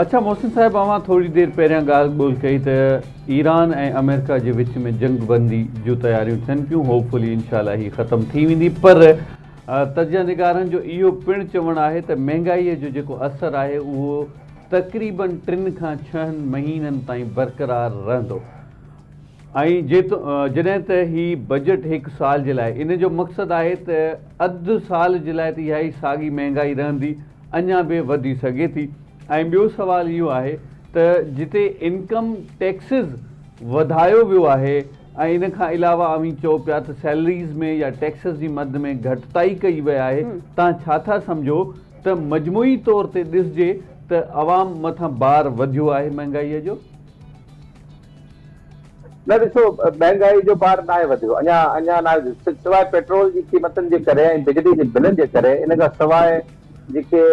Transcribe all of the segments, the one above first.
اڇا محسن صاحب اوهان ٿوري دير پهريان ڳالهه ٻولهه ڪئي ته ايران ۽ آمريڪا جي وچ ۾ جنگ بندي جون تياريون ٿين پيون هوپ فلي انشاء الله هي ختم ٿي ويندي پر تجزيه نگارن جو اهو پڻ چوڻ آهي ته مهنگائي جو جيڪو اثر آهي اهو تقريباً ٽن کان ڇهن مهينن تائين برقرار رهندو ۽ جڏهن ته هي بجيٽ هڪ سال جي لاء ان جو مقصد آهي ته اڌ سال جي لاء ته اهائي ساڳي مهنگائي رهندي اڃا به وڌي سگهي ٿي ۽ ٻيو سوال اهو آهي ته جتي انڪم ٽيڪسز وڌايو ويو آهي ۽ ان کان علاوه اوهين چئو پيا ته سيلريز ۾ يا ٽيڪسز جي مد ۾ گهٽتائي ڪئي وئي آهي تان ڇا ٿا سمجهو ته مجموعي طور تي ڏسجي ته عوام مٿان بار وڌيو آهي مهنگائي جو؟ نه ڏسو مهانگائي جو بار ناهي وڌيو اڃا اڃا ناهي سواء پيٽرول جي قيمتن جي ڪري ۽ بجلي جي بلن جي ڪري ان کان سواء جيڪي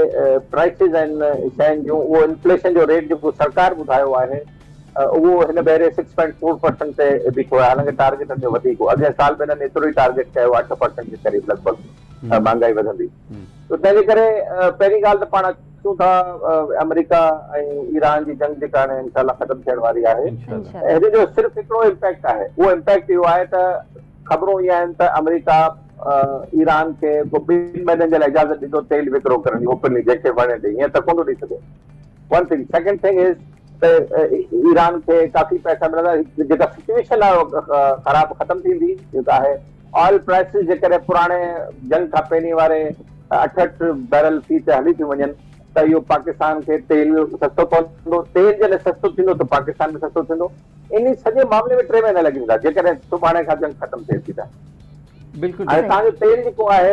پرائسز آهن شين جون اهو انفليشن جو ريٽ جيڪو سرڪار ٻڌايو آهي اهو هن ڀيري سڪس پوائنٽ فور پرسنٽ تي بيٺو آهي حالانڪ ٽارگيٽن جو وڌيڪ هو اڳين سال به هنن ايترو ئي ٽارگيٽ ڪيو آهي اٺ پرسنٽ جي قريب لڳ ڀڳ مهانگائي وڌندي ته تنهن جي ڪري پهرين ڳالهه ته پاڻ اچون ٿا آمريڪا ۽ ايران جي جنگ جيڪا هاڻي انشاء الله ختم ٿيڻ واري آهي هن جو صرف هڪڙو امپيڪٽ آهي اهو امپيڪٽ اهو آهي ته خبرون ايئن آهن ته آمريڪا ايران کي ٻن مهينن جي لاء اجازت ڏيندو تيل وڪرو ڪرڻ جي اوپنلي جيڪي وڻي ڏي هيئن ته ڪونه ڏئي سگهي one thing second thing is ته ايران کي ڪافي پئسا ملندا جيڪا سچويشن خراب ختم ٿيندي جيڪا آهي آئل پرائسز جيڪڏهن پراڻي جنگ کان پهرين واري اٺهٺ بيرل في تي هلي ٿيون وڃن ته اهو پاڪستان کي تيل سستو پوندو، تيل جڏهن سستو ٿيندو ته پاڪستان به سستو ٿيندو، ان سڄي معاملي ۾ ٽي مهينا لڳي ويندا جيڪڏهن سڀاڻي کان جنگ ختم ٿئي ٿي ته. بلڪل ۽ تهان جو تيل جيڪو آهي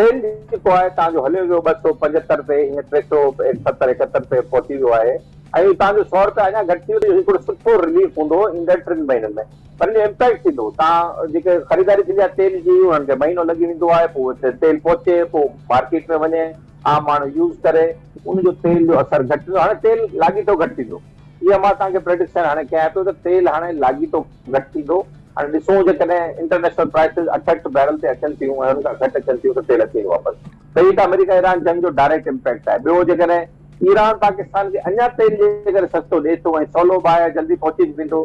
تيل جيڪو آهي تهان جو هليو ويو ٻه سؤ پنجهتر تي هينئر ٽي سؤ ستر ايڪهتر تي پهچي ويو آهي ۽ تهان جو سؤ روپيا اڃا گهٽ ٿي ويندو جيڪو هڪڙو سٺو رليف هوندو ايندڙ ٽن مهينن ۾. پر ان جو امپيڪٽ ٿيندو تان جيڪي خريداري ٿيندي آهي تيل جي انهن کي مهينو لڳي ويندو آهي پوء اتي تيل پهچي پوء مارڪيٽ ۾ وڃي عام ماڻهو يوز ڪري ان جو تيل جو اثر گهٽ ٿيندو هاڻي تيل لاڳيتو گهٽ ٿيندو اها مان توهان کي پريڊڪشن هاڻي ڪيان پيو ته تيل هاڻي لاڳيتو گهٽ ٿيندو هاڻي ڏسون جيڪڏهن انٽرنيشنل پرائسز اٺهٺ بيرل تي اچن ٿيون ۽ ان کان گهٽ اچن ٿيون ته تيل اچي ويندو واپس ته هي ته آمريڪا ايران جنگ جو ڊائريڪٽ امپيڪٽ آهي ٻيو جيڪڏهن ايران پاڪستان کي اڃا تيل جي ڪري سستو ڏي ٿو ۽ سولو باهه جلدي پهچي به ويندو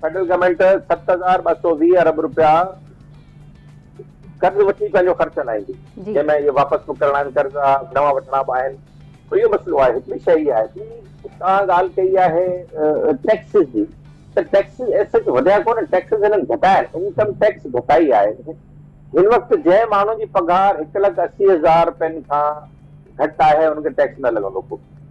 فيڊرل گورنمينٽ ست هزار ٻه سؤ ويهه ارب رپيا قرض وٺي پنهنجو خرچ هلائيندي، جنهن ۾ اهي واپس به ڪرڻا آهن قرض، نوان وٺڻا به آهن. اهو مسئلو آهي. هڪڙي شيء اها آهي ته توهان ڳالهه ڪئي آهي ٽيڪسز جي ته ٽيڪسز ايز سچ وڌيا ڪونه، ٽيڪسز هنن گهٽايا آهن، انڪم ٽيڪس گهٽائي آهي. هن وقت جنهن ماڻهو جي پگهار هڪ لک اسي هزار رپين کان گهٽ آهي ان کي ٽيڪس نه لڳندو ڪو.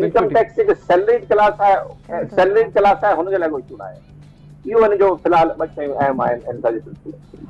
انڪم ٽيڪس جيڪي سيلريڊ ڪلاس آهي سيلريڊ ڪلاس آهي هن جي لاء ڪو ايشو ناهي اهو ان جو في الحال ٻه شيون اهم آهن ان سان جي سلسلي ۾